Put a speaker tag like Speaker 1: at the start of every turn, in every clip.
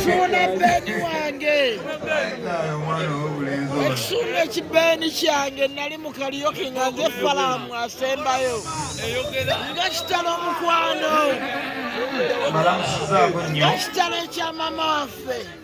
Speaker 1: Suna beni wange ekisuna ekibeeni kyange nali mu kaliyoki nga nze falamu asembayo nga kitalo omukwano nga kitalo ekya mama waffe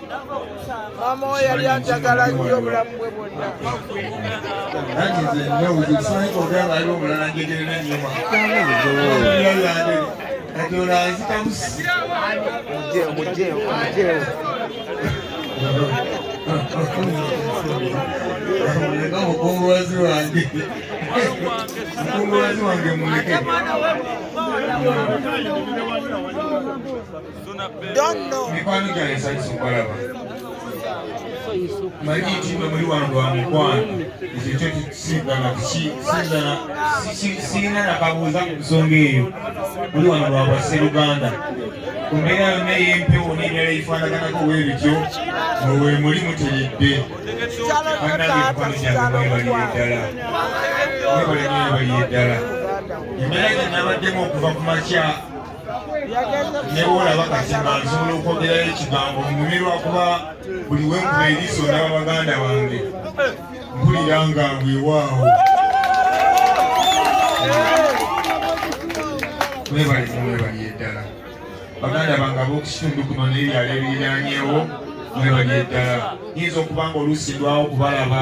Speaker 1: maama we yali anjagala nnyo obulamu bwe bwonna
Speaker 2: omukungubazi wange omukungubazi wange muleke Don't know. Magiti mwe muli wantu wa mukwano ekyo kyo kisigala kisigala sirina nakabuuza ku nsonga eyo muli wano lwa bwasseruganda ku mbeera yonna ey'empewo n'endala eyifaanaganako bwe bityo mwe we muli muteredde bannange mukwano gyange mwebaliye ddala mwebale mwebaliye ddala embeera gye nabaddemu okuva ku makya nebwolaba kazima nsobola okwogerayo ekigambo mubi lwakuba buli wenkuba eriiso ndaba baganda bange mpulira nga weewaawo mwebali mwebali eddala baganda bange ab'okukitundu kuno nebyalo ebiriranyewo mwebali eddala nyinza okuba nga oluusi lwawo kubalaba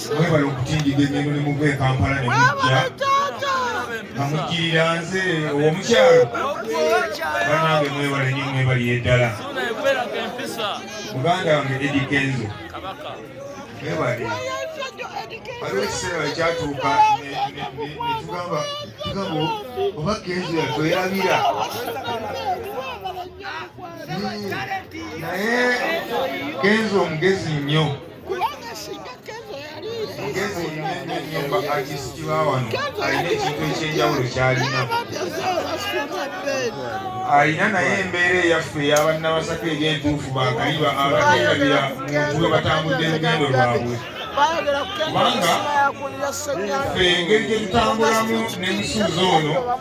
Speaker 2: mwebale okutindiga enyendo ne muva e kampala ne mujja nga mujjirira nze owomukyalo banange mwebale nyo mwebaliye ddala muganda wange edi kenzo mwebale waliwo ekiseera ekyatuuka netugamba tugamba oba kenzo yatwerabira naye kenzo omugezi nnyo alina naye embeera eyaffe eyabannabasaka egyentuufu bakaliba abaterabira muntu we batambudde lugendo lwabwe kubanga ffe engeri gyetutambulamu nemusuuza ono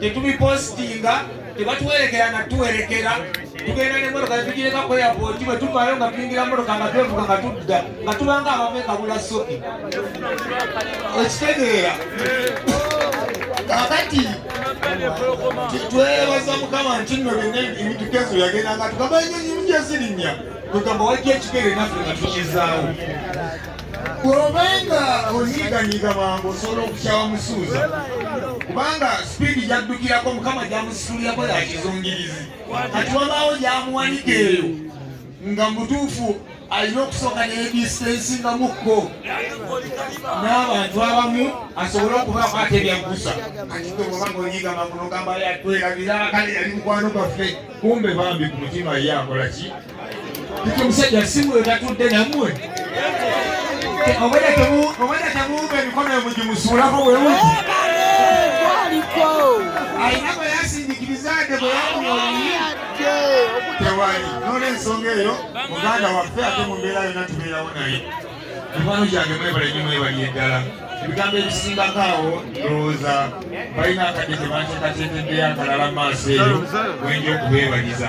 Speaker 2: tetubipositinga tebatuwerekera nga tuwerekera tugenda nemotoka netugireka ku airport bwe tuvaayo nga tuyingira motoka nga twevuga nga tudda nga tubanga abamu ekabula soki okitegeera kakati twebaza mukama nti nno byonna emitukezo yagenda nga tugamba enyonyi mujezirinya tugamba wajja ekigere naffe nga tukizaawo bw'obanga onyiiganyiiga mangu osobola okukyawa musuuza kubanga sipiidi gyaddukirako mukama gyamusitulirako ya kizungirizi kati wabaawo gyamuwanika eyo nga mutuufu alina okusooka neyedistensingamukko n'abantu abamu asobole okubaako ate byaggusa katitobanga onyiiga mangu nogamba yatwerabira kale yali mukwano gaffe kumbe bambi ku mutima ye akola ki Omusajja si mwe tatudde nammwe obwedda temuwumba emikono emugimusuulako bwewuti alina bwe yasindikiriza ade bwe yakuyoyi tewali n'olwensonga eyo muganda waffe ate mu mbeera yonna tubeerawo naye mikwano gyange mwebale nyo mwebali eddala ebigambo ebisingako awo ndowooza balina akadde tebanteekateekebbeyo akalala mu maaso eyo wenja okubeebaliza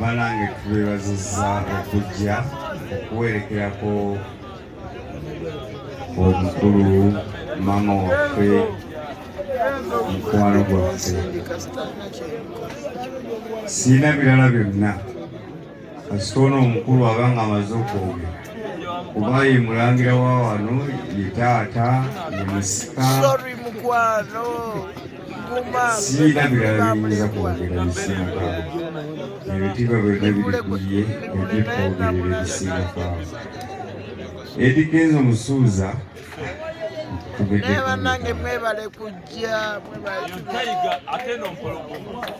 Speaker 3: banange tubebaziza okujja okuwerekerako omukulu maama waffe mukwano gwaffe sirina birala byonna kasita ono omukulu aba nga amaze okwogera kuba ye mulangira wa wano ye taata ye musika Sirina birala biyinza kwogera bisinga ebitiibwa byonna biri ku ye ojje twogerera ebisinga kwabo edi kenzo musuuza naye
Speaker 1: banange mwebale kujja